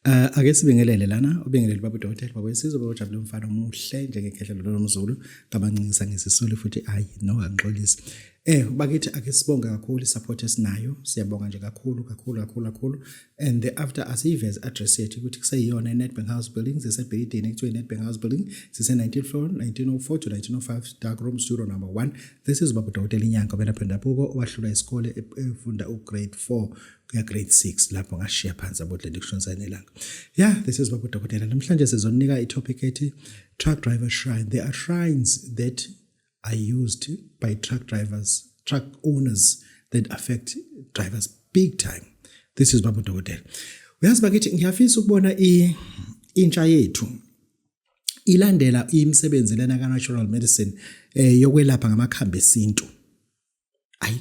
Uh, ake sibingelele lana ubingelele baba udokotela baba wesizwe baba ujabule umfana omuhle njengekhehla lolo nomzulu kabancincisa ngesisulu futhi ayi no angixolisi eh bakithi ake sibonge kakhulu support esinayo siyabonga nje kakhulu kakhulu kakhulu kakhulu and thereafter asiyive as address yethu ukuthi kuseyiyona i-nedbank house building sisebhilidini ekuthiwa i-nedbank house building sise-19 floor 1904 to 1905 dark room studio number 1 this is baba dokotela inyanga obelapha endabuko owahlula isikole e-, efunda ugrade 4 kuya grade 6 lapho ngashiya phansi abodle ndikushonisa nelanga yeah this is baba dokotela namhlanje sizonika i-topic ethi truck driver shrine there are shrines that are used by truck drivers, truck owners that affect drivers big time. This is Babu Dokotela. Uyazi bakithi ngiyafisa ukubona i intsha yethu ilandela imisebenzi lena ka natural medicine eh yokwelapha ngamakhambi esintu. ayi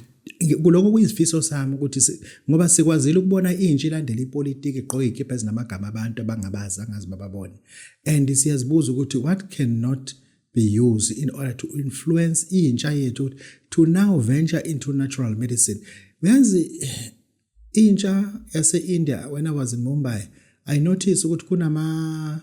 kuloko kuyizifiso sami ukuthi ngoba sikwazile ukubona intsha ilandela ipolitiki igqoke ikipha ezinamagama abantu abangabazi angazi bababone and siyazibuza ukuthi what cannot be used in order to influence intsha yethu to now venture into natural medicine uyazi eh, intsha yase-india when i was in mumbai i notice ukuthi kunama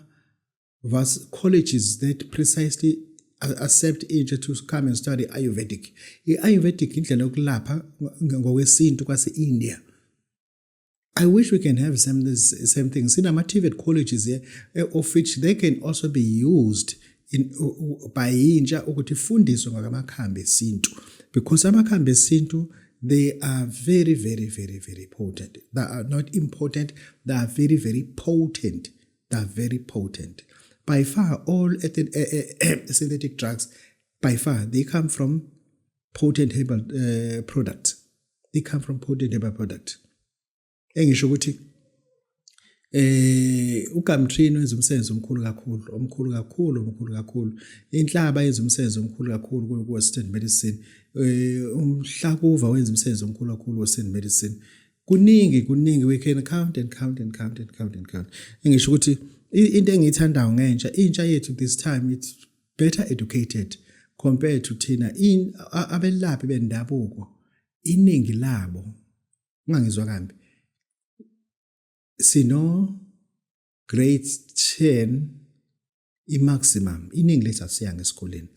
Thus, colleges that precisely accept intsha to come and study ayurvedic i-ayurvedic indlela yokulapha ngokwesintu kwase-india I wish we can have some this same thing. Sinama-TVET colleges here, eh, of which they can also be used in, by intsha ukuthi ifundiswe ngakamakhambi esintu because amakhambi esintu they are very very very very potent they are not important they are very very potent they are very potent by far all eh, eh, eh, synthetic drugs by far they come from potent herbal uh, products they come from potent herbal products engisho ukuthi eh uGamtrino wenza umsebenzi omkhulu kakhulu omkhulu kakhulu omkhulu kakhulu inhlaba yenza umsebenzi omkhulu kakhulu ku-western medicine eh umhlakuva wenza umsebenzi omkhulu kakhulu western medicine kuningi kuningi we can count and count and count and count and count engisho ukuthi into engiyithandayo ngentsha intsha yethu this time it's better educated compared to thina in abelaphi bendabuko iningi labo ungangizwa kambi sino grade 10 i-maximum iningi lethu asiyanga esikoleni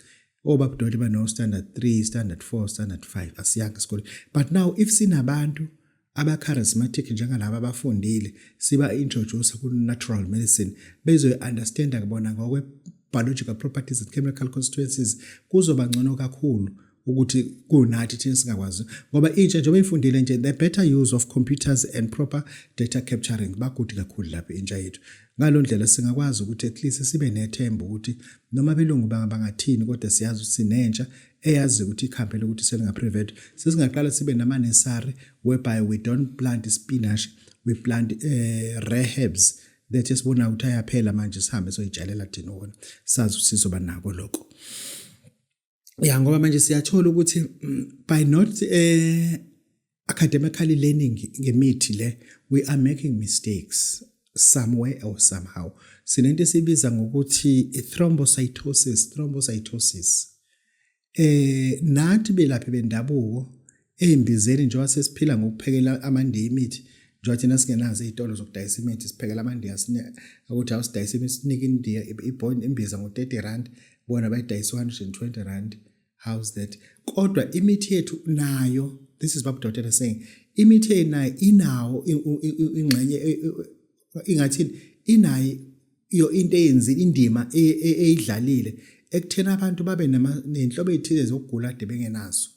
obabudoti bano-standard 3 standard 4 standard 5 asiyanga esikoleni but now if sinabantu aba-charismatic njengalaba abafundile siba-introduce ku-natural medicine bezoyi-understanda kubona ngokwe-biological properties and chemical constituencies kuzoba ngcono kakhulu ukuthi kunathi thina singakwazi ngoba intsha njengoba ifundile nje the better use of computers and proper data capturing bakude kakhulu lapha intsha yethu ngalo ndlela singakwazi ukuthi at least sibe nethemba ukuthi noma belungu bangathini kodwa siyazi ukuthi sinentsha eyazi ukuthi ikhambele ukuthi selingaprevent sesingaqala sibe namanesari whereby we don't plant spinach we plant uh, eh, rehabs that esibona ukuthi ayaphela manje sihambe soyitshalela thina wona sazi ukuthi sizoba nako lokho ya ngoba manje siyathola ukuthi mm, by not eh academically learning ngemithi le we are making mistakes somewhere or somehow sinento esibiza ngokuthi thrombocytosis thrombocytosis eh nathi belaphi bendabuko Eyimbizeni njengoba sesiphila ngokuphekela amandiya imithi njengoba thina singenazo iy'tolo zokudayisa imithi siphekela amandiya ukuthi awusidayisa imithi sinike indiya imbiza ngo-30 rand bona bayidayisa 120 rand how's that kodwa imithi yethu nayo this is babu dotela saying imithi eyinayo inawo ingxenye e, e, e, ingathini inayo iyo into eyenzile indima eyidlalile ekuthena abantu babe nenhlobo ezithile zokugula ade bengenazo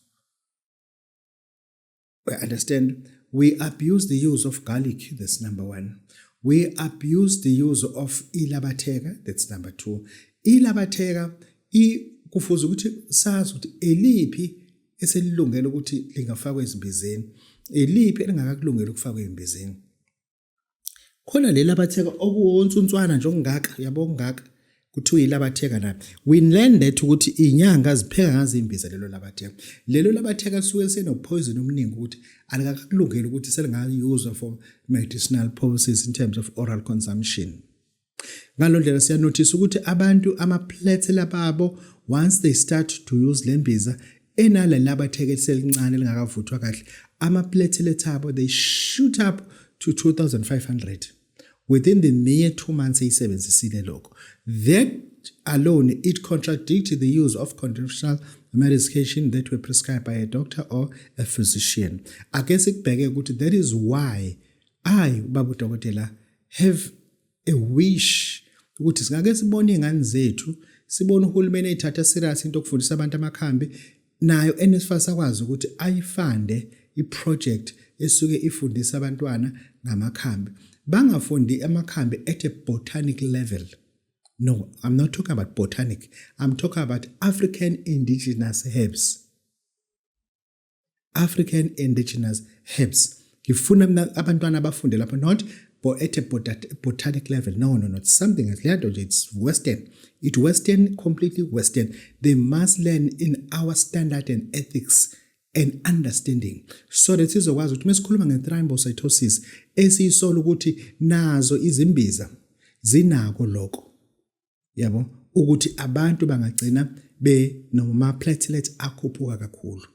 We understand? We abuse the use of garlic, that's number one. We abuse the use of ilabatheka, that's number two. Ilabatheka, kufuze ukuthi sazi ukuthi eliphi eselilungele ukuthi lingafakwa ezimbizeni eliphi elingakakulungela ukufakwa ezimbizeni khona leli abatheka okuwonsuntswana nje okungaka uyabo okungaka kuthiwa ilabatheka nabo we learn that ukuthi inyanga zipheka ngazimbiza lelo labatheka lelo labatheka lisuke lisenophoyizini omningi ukuthi alikakulungeli ukuthi selingayuzwa for medicinal purposes in terms of oral consumption ngalo ndlela siyanothisa ukuthi abantu amaplethela babo once they start to use le mbiza enale labathekethe elincane elingakavuthwa kahle amaplethela ethabo they shoot up to 2500 within the mere 2 months eyisebenzisile lokho that alone it contradicts the use of conventional medication that were prescribed by a doctor or a physician ake sikubheke ukuthi that is why ayi ubaba udokotela have a wish ukuthi singake sibone izingane zethu sibone uhulumeni ayithatha serious into okufundisa abantu amakhambi nayo NSFAS akwazi ukuthi ayifande iproject esuke ifundisa abantwana ngamakhambi bangafundi amakhambi at a botanic level no i'm not talking about botanic i'm talking about african indigenous herbs African indigenous herbs ngifuna mina abantwana abafunde lapho not at a botanic level no no not something else leya nto nje it's western it western completely western they must learn in our standard and ethics and understanding so that sizokwazi ukuthi mesikhuluma nge-thrombocytosis esiyisola ukuthi nazo izimbiza zinako lokho yabo ukuthi abantu bangagcina benoma platelet akhuphuka kakhulu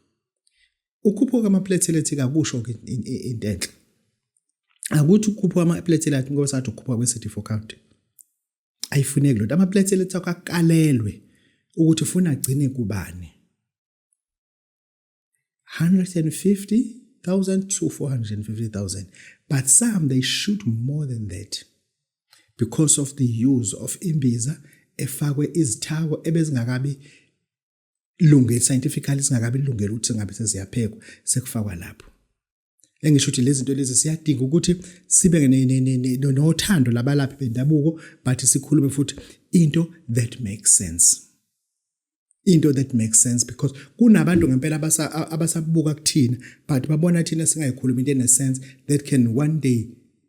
ukhuphuka ama platelet kakusho ke into enhle akuthi ukhuphuka ama platelet ngoba sathi ukhuphuka kwe CD4 count ayifuneki lento ama platelet akho akalelwe ukuthi ufuna agcine kubani 150,000 to 450,000. But some, they shoot more than that because of the use of imbiza efakwe izithako ebezingakabi lunge scientifically singakabi lungela ukuthi ngabe seziyaphekwa sekufakwa lapho engisho ukuthi lezi zinto lezi siyadinga ukuthi sibe nothando labalaphi bendabuko but sikhulume futhi into that makes sense into that makes sense because kunabantu ngempela abasabuka kuthina but babona thina singayikhulumi into enesense that can one day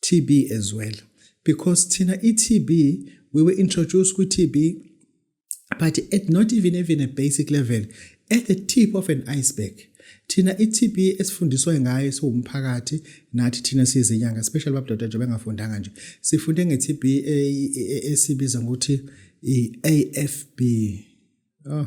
TB as well because thina iTB we were introduced kwi TB but at not even even a basic level at the tip of an iceberg thina iTB esifundiswa ngayo siwumphakathi nathi thina siyizinyanga especially babudoda nje bengafundanga nje sifunde ngeTB e, e, e, esibiza ngokuthi iAFB oh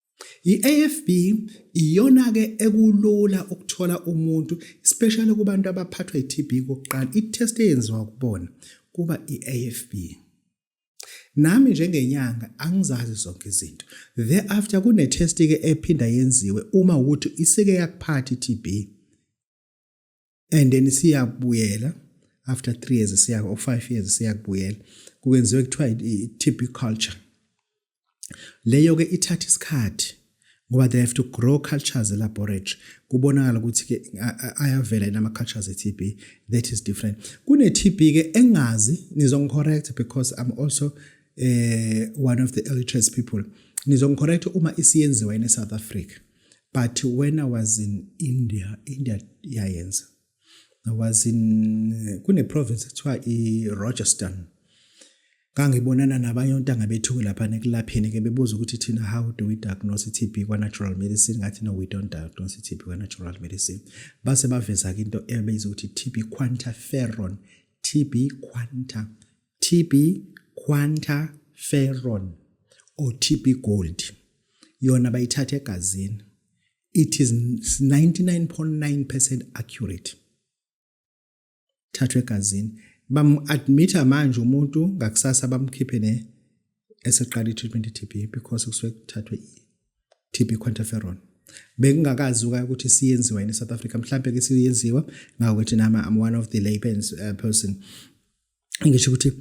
I-AFB iyona-ke ekulula ukuthola umuntu especially kubantu abaphathwa i-TB kokuqala i-test eyenziwa kubona kuba i-AFB. Nami njengenyanga angizazi zonke izinto. Thereafter kune-test-ke ephinda yenziwe uma ukuthi isike yakuphatha i-TB. and then siyabuyela after 3 years siya or 5 years siyakubuyela kukwenziwe kuthiwa i-TB culture leyo ke ithatha isikhathi ngoba they have to grow cultures elaboratory kubonakala ukuthi ke ayavela yena ama-cultures e-TB that is different kune-TB ke engazi nizongicorrect because I'm also uh, one of the illiterate people nizongicorrect uma isiyenziwa in South Africa but when i was in india india yayenza i was in kune-province kuthiwa i-rogerston ngangibonana nabanye ontanga bethu lapha nekulapheni ke bebuza ukuthi thina how do we diagnose i-TB kwa-natural medicine ngathi no we don't diagnose i-TB kwa-natural medicine base baveza-ke into ebeyiza ukuthi i-TB quantiferon TB quanta TB quantiferon or TB gold yona bayithatha egazini it is 99.9% accurate thathwe egazini bamu-admitha manje umuntu ngakusasa bamkhiphe ne eseqala i-treatment i-TB because kusuke kuthathwe i-TB quantiferon bekungakazi uka ukuthi siyenziwa yini South Africa mhlambe ke siyenziwa ngakho thina I'm one of the layperson uh, person ngisho ukuthi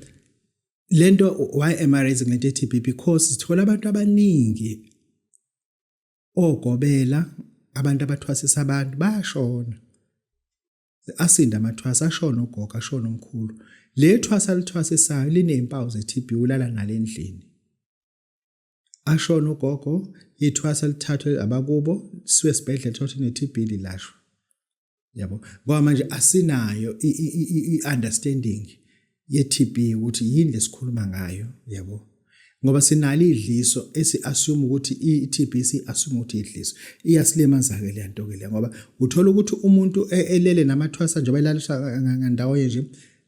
lento why am i raising lento ethi because sithola abantu abaningi ogobela abantu abathwasisa abantu bashona asinda amathwasa ashona ugogo ashona umkhulu le thwasa lithwasisayo linezimpawu ze-TB ulala nalendlini ashona ugogo ithwasa lithathwe abakubo siwe sibhedlela thothi ne TB lilashwa yabo ngoba manje asinayo i understanding ye TB ukuthi yini lesikhuluma ngayo yabo ngoba sinalo idliso esi assume ukuthi i TB si assume ukuthi idliso iyasilimaza ke lento ke le ngoba uthola ukuthi umuntu e, elele namathwasa nje bayilalisha ngandawo nje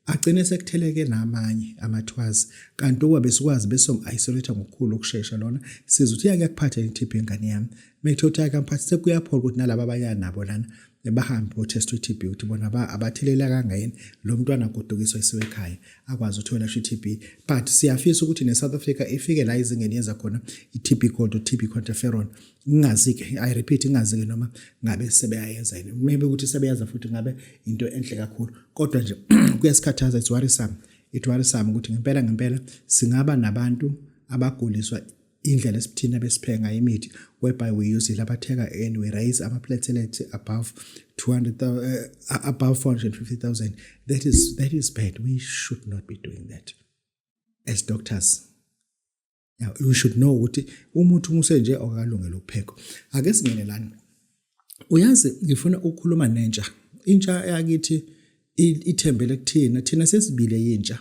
agcine sekutheleke namanye amathwazi kanti ukuba besikwazi besom-isolate ngokukhulu ukushesha lona siza ukuthi yake yakuphatha i-tb ingane yami mekuthe ukuthi yake amphathi sekuyaphola ukuthi nalaba abaya nabo lana bahambe bothesta i-TB ukuthi bona abathelela kangayini lo mntwana agodukiswa isiwe ekhaya akwazi ukuthi welashwa i-TB but siyafisa ukuthi ne-South Africa ifike la izingeni yenza khona i-TB gold u-TB quantiferon ngingazi-ke i repeat ngingazi-ke noma ngabe sebeyayenza yini maybe ukuthi sebeyenza futhi ngabe into enhle kakhulu kodwa nje kuyasikhathaza it's worrisome it worrisome ukuthi ngempela ngempela singaba nabantu abaguliswa indlela esithina besiphenga imithi whereby we use it abathenga and we raise ama platelets above 200 uh, eh, above 450000 that is that is bad we should not be doing that as doctors Now you should know ukuthi umuntu umuse nje okalungela ukuphekwa. Ake singene lana. Uyazi ngifuna ukukhuluma nentsha. Intsha yakithi ithembele kuthina. Thina sesibile yintsha.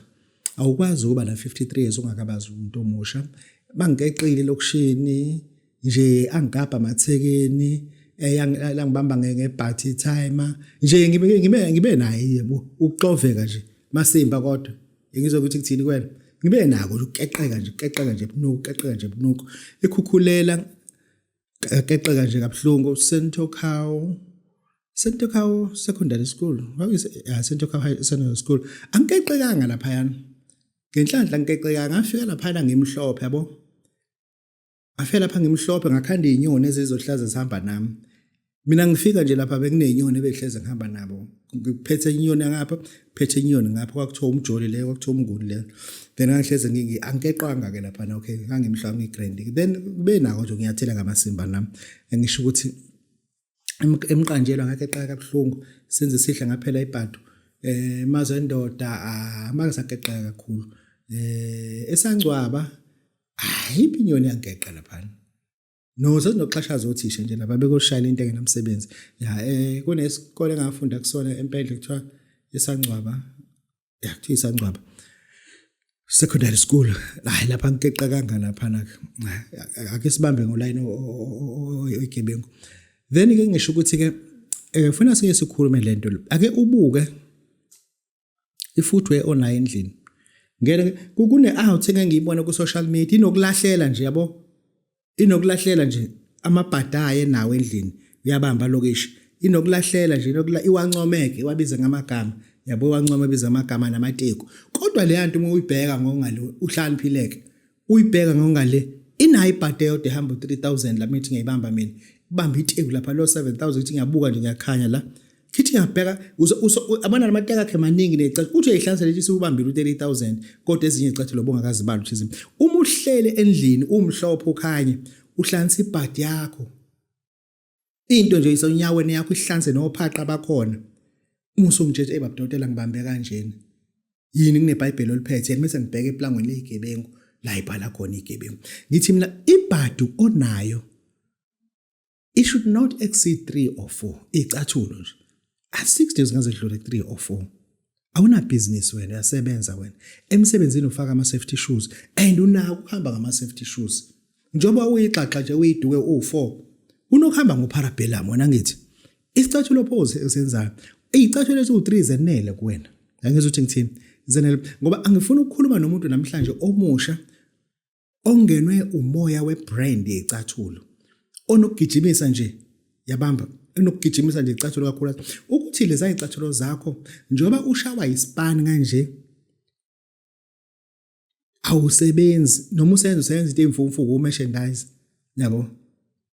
Awukwazi ukuba na 53 years ungakabazi umuntu omusha. Bangikeqile lokushini nje angigabha mathekeni eyangibamba eh, ngebhathi timer nje ngibe ngibe ngibe naye yebo ukuxoveka nje masimba kodwa ngizwe ukuthi kuthini kwena ngibe nako ukukeqeka nje keqeka nje bunuku keqeka nje bunuku ekhukhulela keqeka nje kabuhlungu sento cow sento cow secondary school how is uh, sento cow high secondary school angikeqekanga lapha yana ngenhlanhla ngikeqeka ngafika lapha ngimhlophe yabo Afe lapha ngimhlophe ngakhanda izinyoni ezizohlaza zihamba nami. Mina ngifika nje lapha bekunezinyoni ebehleze ngihamba nabo. Ngiphethe inyoni ngapha, phethe inyoni ngapha kwakuthiwa umjoli le, kwakuthiwa umnguni le. Then ngangihleze ngingi angiqwanga ke lapha na okay, ngangimhlwa ngigrand. Then benako nje ngiyathela ngamasimba nami. Ngisho ukuthi emqanjelwa ngakhe eqaka kabuhlungu senze sihle ngaphela ibhadu eh maze indoda amake sakeqeka kakhulu eh esangcwaba hayi inyoni yangeqa lapha no sesinoxhashaza othisha nje laba bekoshayela into engenamsebenzi ya eh kunesikole engafunda kusona empendle kuthiwa esangcwaba ya kuthiwa isancwaba secondary school hayi lapha ngikeqa kanga lapha nake ake sibambe ngoline oyigebengu then ke ngisho ukuthi ke eh funa siye sikhulume lento ake ubuke ifootwear onayo endlini ngeke kune out engengiyibona ku social media inokulahlela nje yabo inokulahlela nje amabhada aye nawo endlini uyabamba lokishi inokulahlela nje inokula iwancomeke iwabize ngamagama yabo iwancoma biza amagama namateku kodwa le nto uma uyibheka ngokungale uhlaniphileke uyibheka ngokungale inayo ibhade yodwa ehamba 3000 la mithi ngiyibamba mina ibamba iteku lapha lo 7000 ithi ngiyabuka nje ngiyakhanya la Kithi yabheka abana namateka akhe maningi necathi uthi uyayihlanza lethi siwubambile u30000 kodwa ezinye icathi lobo ngakazibali uthizini uma uhlele endlini umhlophe ukhanye uhlanza ibhadi yakho into nje isonyaweni yakho ihlanze nophaqa bakhona musu ngitshela ebaba dotela ngibambe kanjena yini kunebhayibheli oliphethe yena mase ngibheke eplangweni lezigebengu la ibhala khona igebengu ngithi mina ibhadu onayo it should not exceed 3 or 4 icathulo nje at 6 days ngaze dlule 3 or 4 awuna business wena uyasebenza wena emsebenzini ufaka ama safety shoes and unako ukuhamba ngama safety shoes njoba uyixaxa nje uyiduke u4 unokuhamba ngoparabellum wena ngithi isicathulo pose esenzayo izicathulo eziwu3 zenele kuwena ngangizwe ukuthi ngithini zenele ngoba angifuni ukukhuluma nomuntu namhlanje omusha ongenwe umoya webrand yecathulo onokugijimisa nje yabamba enokugijimisa nje icathulo kakhulu ukuthi leza icathulo zakho njengoba ushawa ispan kanje awusebenzi noma usenza usebenza into emfumfuku umerchandise yabo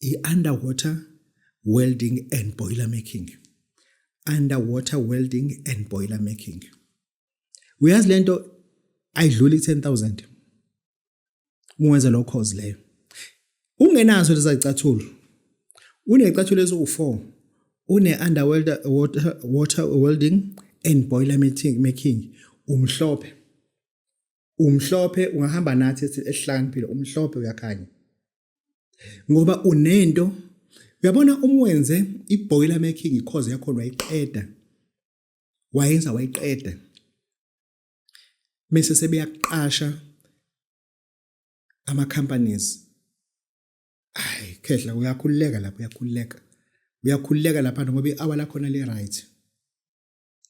i-underwater welding and boiler making underwater welding and boiler making uyazi lento ayidluli 10000 ungenza lo course leyo ungenazo lezacathulo unecathulo eziwu4 une underwater water, water welding and boiler making umhlophe umhlophe ungahamba nathi esihlakaniphile umhlophe uyakhanya ngoba unento uyabona umwenze ibhoyila making cause yakho wayiqeda wayenza wayiqeda mase sebeyaqasha ama companies ay khehla uyakhululeka lapho uyakhululeka uyakhululeka lapha ngoba ihour lakho na le right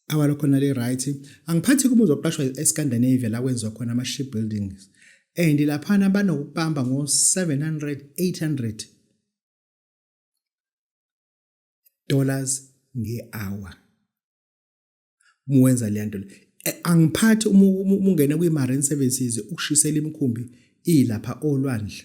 awa lokho nali right angiphathi uma uzoqashwa eScandinavia la kwenziwa khona ama ship buildings and laphana banokubamba ngo 700 800 dollars ngehour muwenza le nto eh, angiphathi uma ungena kwi-marine services ukushisela imikhumbi ilapha olwandle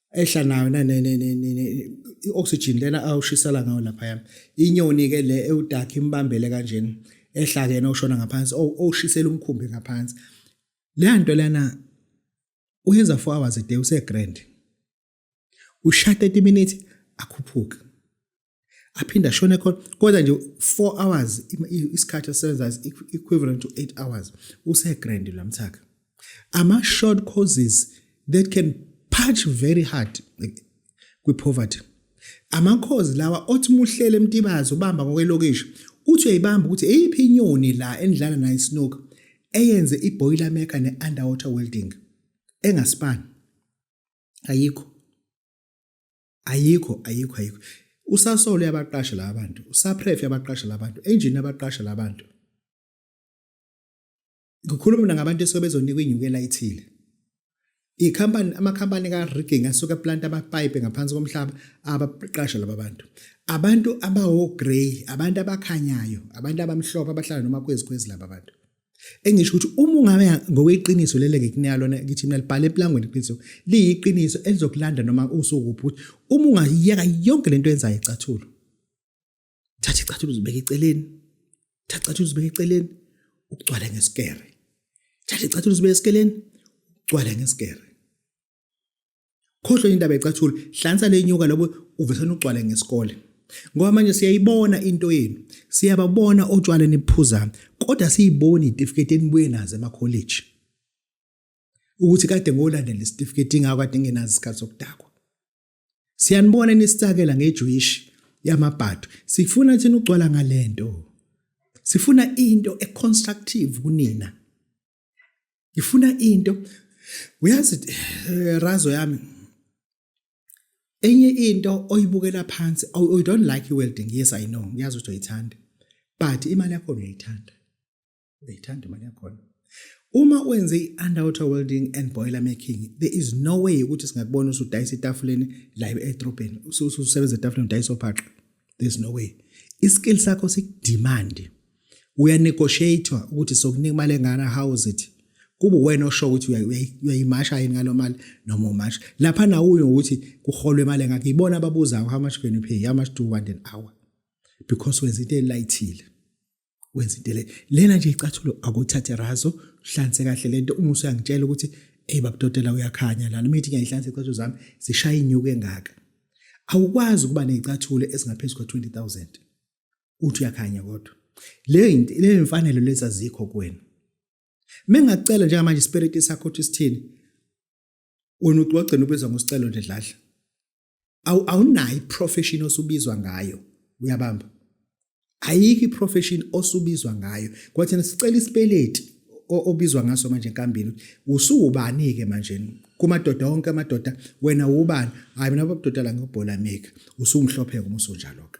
ehla nayo i-oxygen lena awushisela ngayo laphaya inyoni-ke le ewudakha imbambele kanjena ehla kena ushona ngaphansi owushisela umkhumbi ngaphansi leya nto lena uyenza four hours a day usegrand ushaya 30 minutes akhuphuke aphinde ashone khona kodwa nje 4 hours isikhathi asebenza is equivalent to 8 hours usegrand lamthaka ama short courses that can punch very hard kwi poverty amakhozi lawa othi muhlele emtibazo ubamba ngokwelokishi uthi uyayibamba ukuthi eyiphi inyoni la endlala nayo isnoka eyenze iboiler maker ne underwater welding engaspan ayikho ayikho ayikho ayikho usasolo yabaqasha la bantu usapref yabaqasha la bantu engine yabaqasha la bantu ngikhuluma mina ngabantu esuke bezonikwa inyukela ithile ikhampani amakhampani ka-rigging asuke aplanta amapayipi ngaphansi komhlaba abaqasha laba bantu abantu abawo-grey abantu abakhanyayo abantu abamhlophe abahlala noma kwezikhwezi laba bantu engisho ukuthi uma ungabe ngokweqiniso lele ngikunika lona ngithi mina libhale eplangweni iqiniso liyiqiniso elizokulanda noma usukuphi ukuthi uma ungayiyeka yonke lento yenzayo icathulo thatha icathulo uzibeke eceleni thatha icathulo uzibeke eceleni ukugcwale ngesikere thatha icathulo uzibeke eceleni ugcwale ngesikere khohlwe indaba yecathula hlansa lenyuka lobo uvesana ugcwale ngesikole ngoba manje siyayibona into yenu siyababona otshwala niphuza kodwa siyiboni itifiketi enibuye nazo emakholeji ukuthi kade ngolandela isitifiketi ingako kade ngenazi isikhathi sokudakwa siyanibona nisicakela ngejuishi yamabhadu sifuna thina ugcwala ngalento sifuna into econstructive kunina ngifuna into uyazi eh, razo yami enye into oyibukela phansi oh, oh, you don't like your welding yes i know ngiyazi ukuthi uyithanda but imali yakho uyayithanda uyayithanda imali yakho uma wenze i-underwater welding and boiler making there is no way ukuthi singakubona usudayisa etafuleni la edrobheni ususebenza etafuleni udayisa ophaqa there's no way iskill sakho sikudimandi uya negotiate ukuthi sokunika imali engana how is it kube wena osho ukuthi uyayimasha yini ngalo mali noma umasha lapha nawuyo ukuthi kuholwe imali engakho ibona ababuzayo how much can you pay how much do you want an hour because wenza into elayithile wenza into le lena nje icathulo akuthathe razo hlanse kahle lento uma usuyangitshela ukuthi hey babudodela uyakhanya lana mithi ngiyayihlansa icathulo zami zishaya inyuke engaka awukwazi ukuba nezicathulo ezingaphezulu kwa 20000 uthi uyakhanya kodwa leyo leyo imfanelo lezi azikho kuwena mengakucela njengamanje ispirit sakho ukuthi sithini wena uthi wagcina ubizwa ngosicelo nje dladla awunayo iprofession osubizwa ngayo uyabamba ayikho iprofession osubizwa ngayo kwathi sicela isipeleti obizwa ngaso manje enkambini usuwubani ke manje kumadoda onke amadoda wena ubani hayi mina babudoda la ngobhola mika usumhlophe ngomuso njalo ke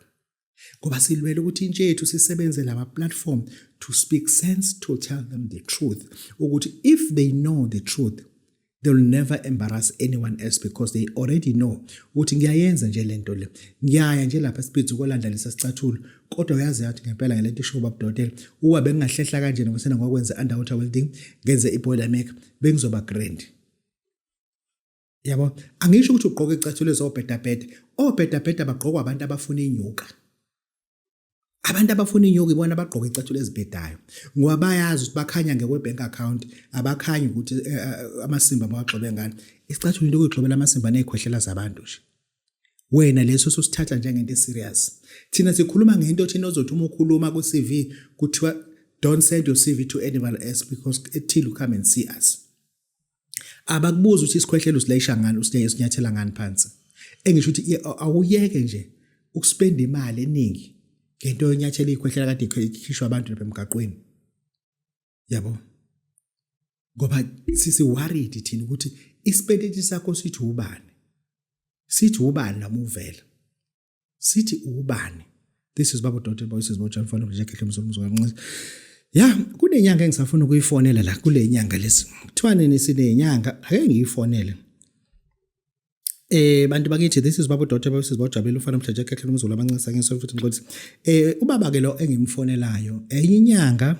ngoba silwela ukuthi intsha yethu sisebenze lama platform to speak sense to tell them the truth ukuthi if they know the truth they'll never embarrass anyone else because they already know ukuthi ngiyayenza nje lento le ngiyaya nje lapha speed ukolanda lesa sicathulo kodwa uyazi yathi ngempela ngelento isho baba Dodel uwa bengingahlehla kanje nokusena ngokwenza underwater welding ngenze iboiler make bengizoba grand yabo angisho ukuthi ugqoke icathulo ezobhedabheda obhedabheda bagqokwa abantu abafuna inyuka abantu abafuna inyuka ibona abagqoka icathulo ezibhedayo ngoba bayazi ukuthi bakhanya ngekwe-bank account abakhanyi ukuthi eh, eh, amasimba mawagxobe ngani isicathulo into okuyigxobela amasimba ney'khwehlela zabantu nje wena leso sosithatha njengento eserious thina sikhuluma ngento thina ozothi uma ukhuluma ku-cv kuthiwa don't send your cv to anyone else because ethile come and see us abakubuza ukuthi isikhwehlelo usilayisha ngani usinyathela ngani phansi engisho ukuthi awuyeke nje ukuspenda imali eningi ngento yonyathela ikhwehlela kade ikhishwa abantu lapha emgaqweni yabo ngoba sisi worried thina ukuthi isipendeti sakho sithi ubani sithi ubani noma uvela sithi ubani this is babo dot boys bo John Fana nje kehle mzulu mzulu kanqisi ya kunenyanga engisafuna ukuyifonela la kule nyanga lesi kuthiwa nini sinenyanga ake ngiyifonele Eh bantu bakithi this is babo dot babo sisi bojabela ufana mhlaje kehle umzulu abancisa ngisho futhi ngiqothi eh ubaba ke lo engimfonelayo enye inyanga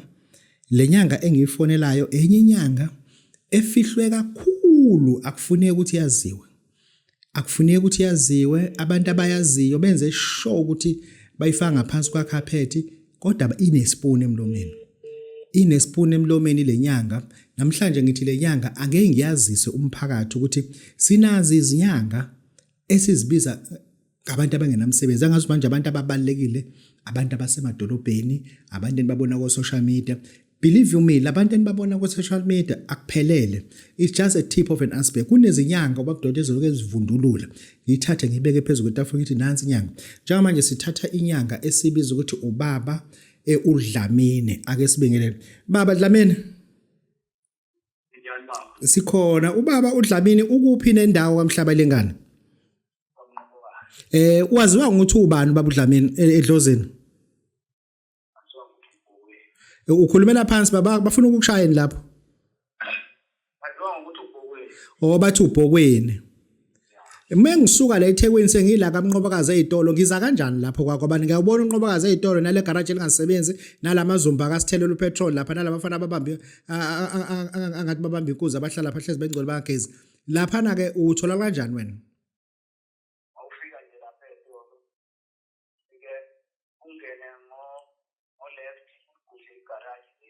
lenyanga engiyifonelayo enye inyanga efihlwe kakhulu akufuneki ukuthi yaziwe akufuneki ukuthi yaziwe abantu abayaziyo benze sure ukuthi bayifaka ngaphansi kwakhaphethi kodwa inespoon emlomeni inespoon emlomeni lenyanga namhlanje ngithi lenyanga ake ngiyazise umphakathi ukuthi sinazi izinyanga esizibiza ngabantu abangenamsebenzi angazi manje abantu ababalekile abantu abasemadolobheni abantu enibabona ko social media believe you me labantu enibabona ku social media akuphelele it's just a tip of an iceberg kunezinyanga obabudoda eziloke ezivundulula ngithathe ngibeke phezulu kwetafula ngithi nansi inyanga njengamanje sithatha inyanga esibiza ukuthi ubaba e udlamine ake sibingelele baba dlamini Nginjani baba? Sikhona ubaba uDlamini ukuphi nendawo kamhlaba lengane? Eh waziwa ngokuthi ubani baba uDlamini e- edlozini? E, Ukhulumela phansi baba bafuna ukukushayeni lapho. Waziwa ngokuthi ubhokweni. Oh bathi ubhokweni. Uma ngisuka la eThekwini sengila kaMnqobakazi ezitolo ngiza kanjani lapho kwakho abantu ngiyawubona uNqobakazi ezitolo nale garage elingasebenzi nalamazumba akasithele upetrol lapha nalabafana ababambe angathi babambe inkuzi abahlala pha hlezi bengcwele bangagezi lapha na ke uthola kanjani wena awufika nje lapha ezitolo ike ungene ngo ngo left ugudle igarage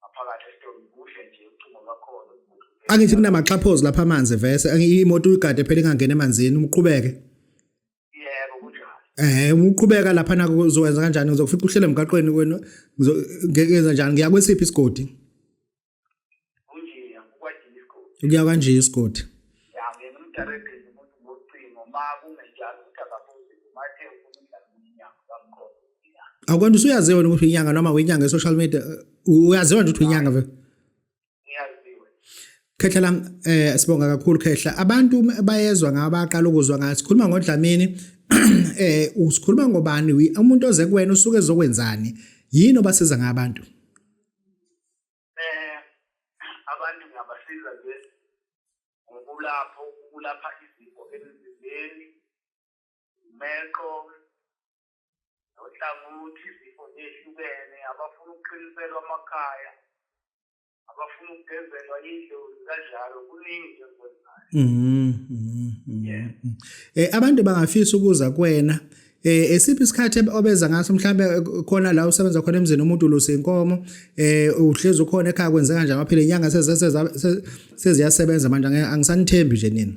ngaphakathi esitolo kuhle nje ucingo lwakhona uzibuhlukele angithi kunamaxhaphozi lapha amanzi vese angi- imoto uyigade phela ingangena emanzini uqhubeke yebo kunjalo Eh uqhubeka lapha nako uzokwenza kanjani ngizokufica uhlele emgaqweni kwenu ngizo- nge- ngenza njani ngiya kwesiphi isigodi kunjeya kukwajini isigodi ukuya kanje isigodi ya ngena umdarebheni umuntu ngocingo ma kungenjalo ukuthi akabuze mathe ufuna umdlalo umnyango kamkhona akwanda usuyaziwa wena ukuthi inyanga noma wenyanga e-social media uyaziwa nje ukuthi uyinyanga vele khehla lam eh sibonga kakhulu khehla abantu bayezwa ngaba baqala ukuzwa ngathi sikhuluma ngodlamini eh usikhuluma ngobani umuntu oze kuwena usuke ezokwenzani yini obasiza ngabantu eh abantu ngabasiza nje ngokulapho ukulapha izifo emzimbeni meqo nohlangothi izifo zehlukene abafuna ukuqiniselwa amakhaya abafuna ukugezelwa idlozi kanjalo kuningi nje ngikwenzayo mhm, mhm, mhm. eh abantu bangafisa ukuza kwena eh esiphi isikhathi obeza ngaso mhlambe khona la usebenza khona emzini umuntu ulusa inkomo eh uhlezi ukhona ekhaya kwenza kanje amaphile inyanga seziyasebenza manje angisanithembi nje nina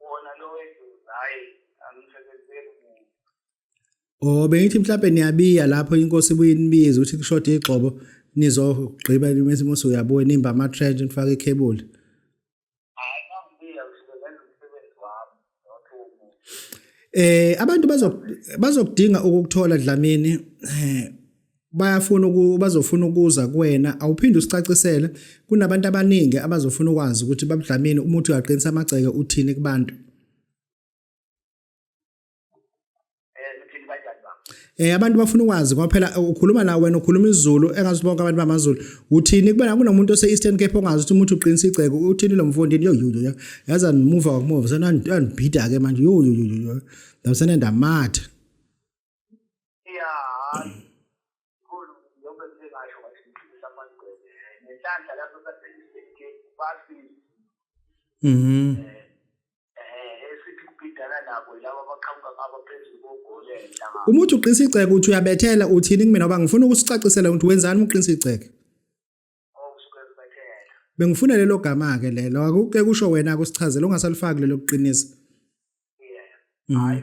wona lo wedlozi hhayi angisebenzeli muntu o oh, bengithi mhlawumbe niyabiya lapho inkosi ibuye inibize ukuthi kushoda igxobo nizogqiba mese mose uyabuya nimba ama-trench nifake ikhebuli Eh abantu bazokudinga ukukuthola Dlamini eh, bayafuna bazofuna ukuza kuwena awuphinde usicacisele kunabantu abaningi abazofuna ukwazi ukuthi babudlamini umuthi uyaqinisa amagceke uthini kubantu eh abantu bafuna ukwazi ngoba phela eh, ukhuluma nawe wena ukhuluma isiZulu engazi bonke abantu bamaZulu uthini kubona kunomuntu ose Eastern Cape ongazi ukuthi umuntu uqinisa igceke uthini lo mfondini yo yo yaza move wakumove sana andibhida ke manje yo yo yo ndamsana ndamatha ya khulu yonke into engasho ngathi ngiphilisa amagcwele ngenhlanhla lapho saseliseke bafile mhm eh, eh esithi kubhidana nabo laba abaqhamuka ngabo phezulu kogole enhlanga uma uthi uqinisa iceke uthi uyabethela uthini kumina ngoba ngifuna ukusicacisela ukuthi wenzani uma uqinisa iceke bengifuna lelo gama ke lelo akuke kusho wena akusichazela ungasalifaki lelo kuqinisa yeah mm. hayi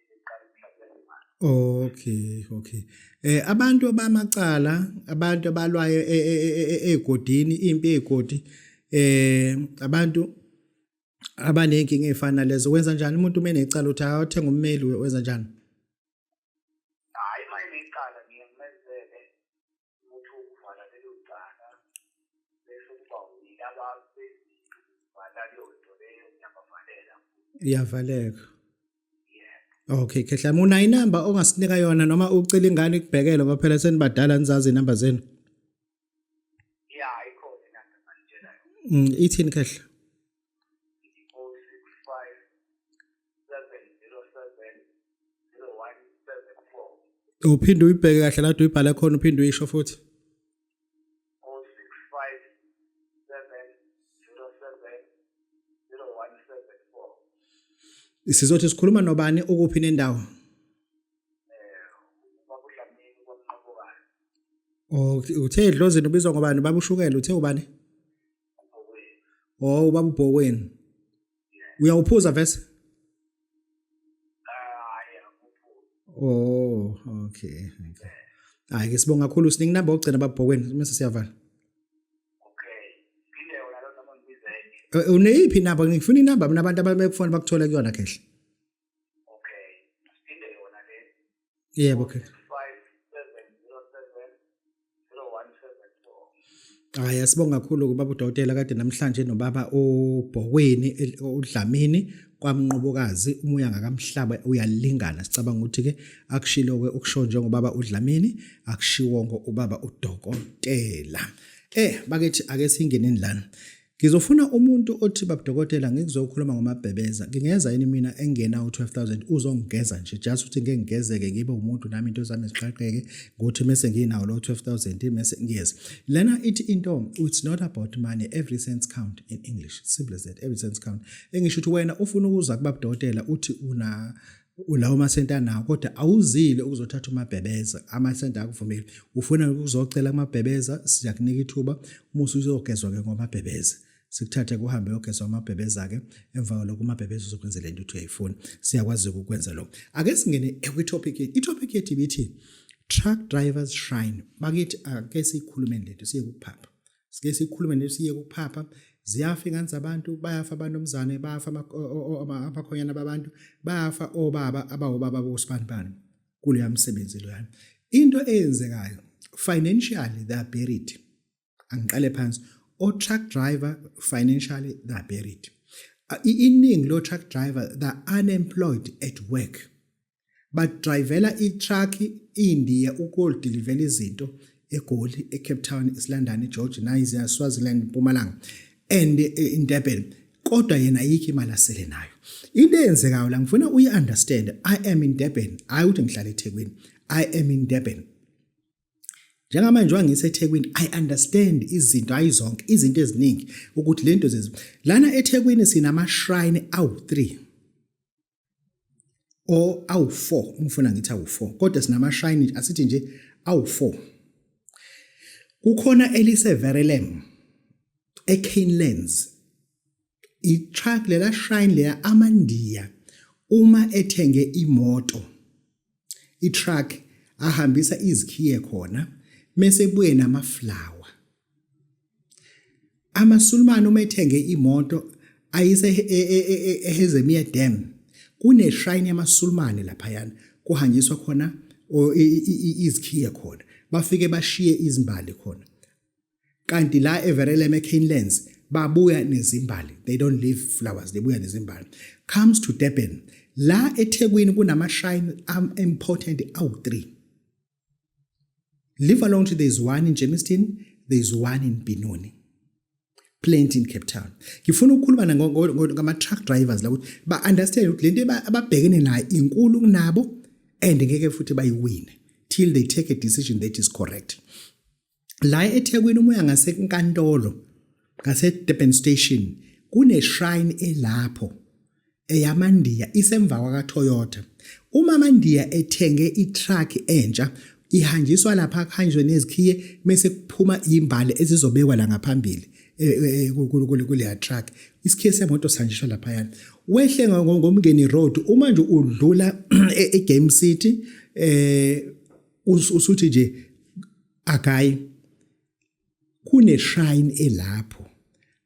Okay, okay. Eh abantu abamacala, abantu abalwayo egodini, impi egodi eh abantu abanenkinga efana lezo wenza kanjani umuntu uma enecala uthi awuthenga ummeli wenza kanjani? ukuthi uvala lelo cala bese kuba yilaba bezivala leyo nto leyo ngiyabavalela iyavaleka Okay khehla muna inamba ongasinika yona noma ucela ingane ikubhekele ngoba phela senibadala nizazi inamba zenu Yeah ikhona inamba manitshela yona mm, Ithini khehla uphinde uyibheke kahle la uyibhale khona uphinde uyisho futhi sizothi sikhuluma nobani ukuphi nendawo Okay, uthe edlozini ubizwa ngobani? Babushukela uthe ubani? Oh ubaba ubhokweni. Uyawuphuza vese? Oh, okay. Okay. Hayi ke sibonga kakhulu siningi number ogcina babhokweni mase siyavala. Okay. Phinde wona lo noma ngibizeke. Eh, uneyiphi number ngifuna inamba mina abantu abamekufona bakuthola kuyona kehle. Okay. Siphinde yona le. Yebo okay. 5707017. Hayi asibonga kakhulu kubaba udokotela kade namhlanje nobaba uBhokweni uDlamini kwamnqobokazi umoya ngakamhlaba uyalingana sicabanga ukuthi ke akushilo ke ukusho njengobaba uDlamini akushiwo ngo ubaba udokotela eh bakethi ake singeneni lana Ngizofuna umuntu othi babudokotela ngikuzokhuluma ngomabhebeza ngingeza yini mina engena u12000 uzongigeza nje just ukuthi ngeke ngigezeke ngibe umuntu nami into zami ziqaqeke ngothi mase nginawo lo 12000 mase ngiyeza lena ithi into it's not about money every cent count in english simple as that every cent count engisho ukuthi wena ufuna ukuza kubabudokotela uthi una ulawo masenti anawo kodwa awuzile ukuzothatha umabhebeza amasenti akuvumeli ufuna ukuzocela kumabhebeza siyakunika ithuba uma usuzogezwa-ke ngomabhebeza sikuthathe kuhambe yogezwa amabhebeza-ke emva kwalokho umabhebeza uzokwenzela into ukuthi uyayifuna siyakwazi-ke ukwenza lokho ake singene kwithopic yethu ithopic yethu ibithi truck drivers shrine bakithi ake siyikhulumeni lento siye kuphapha sike sikhulume nesiye kuphapha ziyafa ingane zabantu bayafa abantomzane bayafa abakhonyana babantu bayafa obaba abawobaba bosibantwana kuleya msebenzi loyana into eyenzekayo financially they are buried angiqale phansi o-truck driver financially they are buried iningi lo-truck driver they are unemployed at work Badrivela i-truck iNdiya ukodilivela izinto eGoli, eCape Town, eSilondon, eGeorge, Niger, Swaziland, Mpumalanga and eh, in Durban. Kodwa yena ayikho imali asele nayo. Into eyenzekayo la ngifuna uyi understand. I am in Durban. Hayi ukuthi ngihlala eThekwini. I am in Durban. Njengamanje wangiseThekwini I understand izinto hayi zonke izinto eziningi ukuthi lento zezi lana eThekwini sinama shrine awu 3 or awu-four umfuna ngithi awu-four kodwa sinamashayini asithi nje awu-four kukhona eliseverelem ecanelands itruck lela shine leya amandiya uma ethenge imoto itruck ahambisa izikhiye khona mese buye namaflower amasulumane uma ethenge imoto ayise e, e, e, ehezemiya dam kuneshrine yamasulumane laphayana kuhanjiswa khona izikhiye khona bafike bashiye izimbali khona kanti la everelem ecanelands babuya nezimbali they don't leave flowers they buya nezimbali comes to durban la ethekwini kunama-shrine important awu-three leave alone to there is one in germiston there is one in binoni plenty in Cape Town ngifuna ukukhuluma ngama truck drivers la ukuthi ba understand ukuthi lento ababhekene nayo inkulu kunabo and ngeke futhi bayiwine till they take a decision that is correct la eThekwini uma uya ngasenkantolo ngaseDurban Station kuneshrine elapho eyamandiya isemva kwakaToyota uma amandiya ethenge itruck entsha ihanjiswa lapha kuhanjwe nezikhiye bese kuphuma imbali ezizobekwa la ngaphambili e, e, e, kuleya truck isikhiye semoto sihanjiswa lapha yana wehle ngomngeni road uma nje udlula eGame City eh usuthi nje akayi kune shrine elapho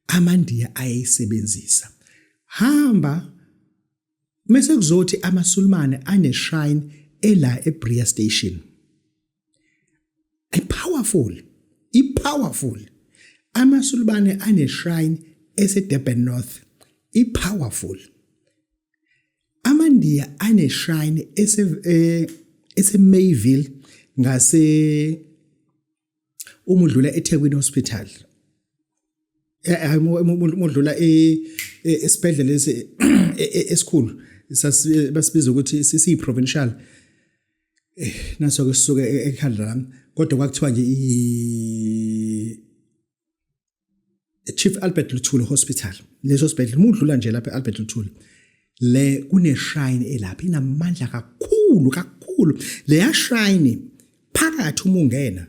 amandiya ayayisebenzisa hamba mase kuzothi amasulumane ane shrine ela eBria station i powerful i powerful amasulumane ane shrine eseDurban North i powerful AmaNdiya aneshrine ese eh, eseMayville ngase uma udlula eThekwini Hospital hayi modlula esibhedlela lesi esikhulu basibiza ukuthi sisiyi provincial eh, naso ke sisuke e-, ekhanda lami kodwa kwakuthiwa nje Chief Albert Luthuli Hospital leso sibhedlela uma udlula nje lapha e-Albert Luthuli le kuneshine elapha inamandla kakhulu kakhulu leya shine phakathi uma ungena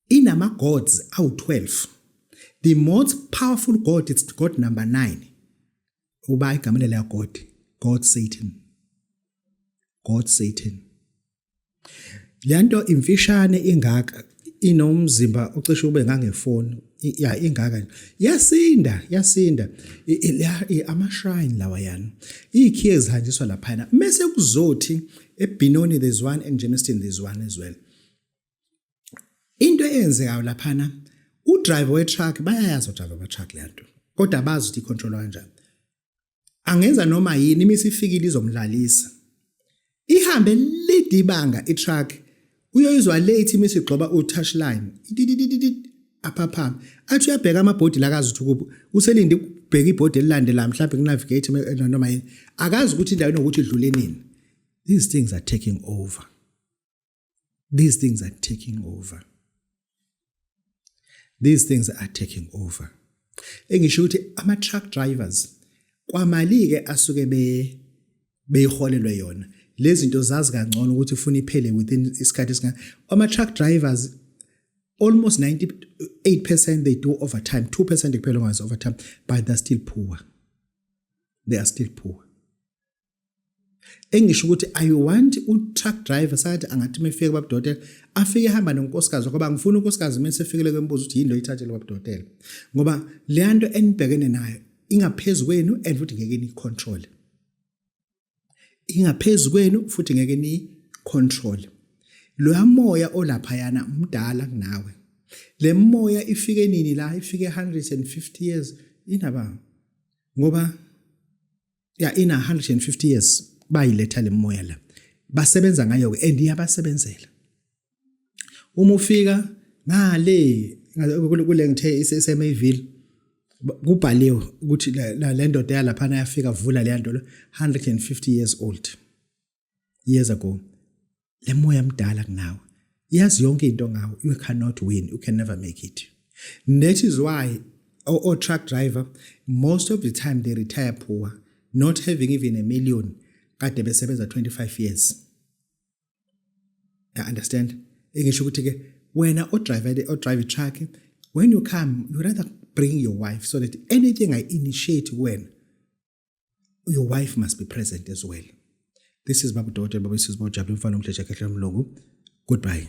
inama gods awu12 the most powerful god it's god number 9 uba igama leya god god satan god satan Le nto imfishane ingaka inomzimba ocishe ube ngangefoni ya ingaka yasinda yasinda amashrine lawa yana iyikhiye ezihanjiswa laphana mese kuzothi ebinoni there's one and Germiston there's one as well into eyenzekayo laphana udriver wetruck bayayazi udriver wetruck le nto kodwa abazi ukuthi icontrolwa kanjani angenza noma yini imisi ifikile izomlalisa ihambe lide ibanga itruck uyoyizwa late imisi igxoba utouch line aphaphama athi uyabheka amabhodi la akazi ukuthi kuphi uselinde ukubheka ibhodi elilandela mhlawumbe kunavigate noma yini akazi ukuthi indawo inokuthi idlule nini these things are taking over these things are taking over these things are taking over engisho ukuthi ama truck drivers kwamali ke asuke be beyiholelwe yona lezi zinto zazi kangcono ukuthi ufuna iphele within isikhathi esinga ama truck drivers almost 98% they do overtime 2% kuphela ongazi overtime but they're still poor they are still poor engisho ukuthi i want u-truck driver sakathi angathi uma efika kwabadokotela afike ehamba nonkosikazi ngoba ngifuna unkosikazi uma esefikile kwembuzo ukuthi yini lo ithathele kwabadokotela ngoba leya nto enibhekene nayo ingaphezu kwenu and futhi ngeke niyi-control ingaphezu kwenu futhi ngeke niyi-control loya moya olaphayana mdala kunawe le moya ifike nini la ifike 150 years inaba ngoba ya ina 150 years bayiletha lemoya la basebenza ngayo ke and iyabasebenzela uma ufika ngale kule ngithe isesemeville kubhaliwe ukuthi le ndoda yalaphana yafika vula le nto 150 years old years ago le moya mdala kunawe yazi yonke into ngawe you cannot win you can never make it that is why or, or truck driver most of the time they retire poor not having even a million kade besebenza 25 years ya understand engisho ukuthi ke wena o driver o drive truck when you come you rather bring your wife so that anything i initiate when your wife must be present as well this is babu dokotela babu sisi bojabu umfana omdleja khehla mlungu goodbye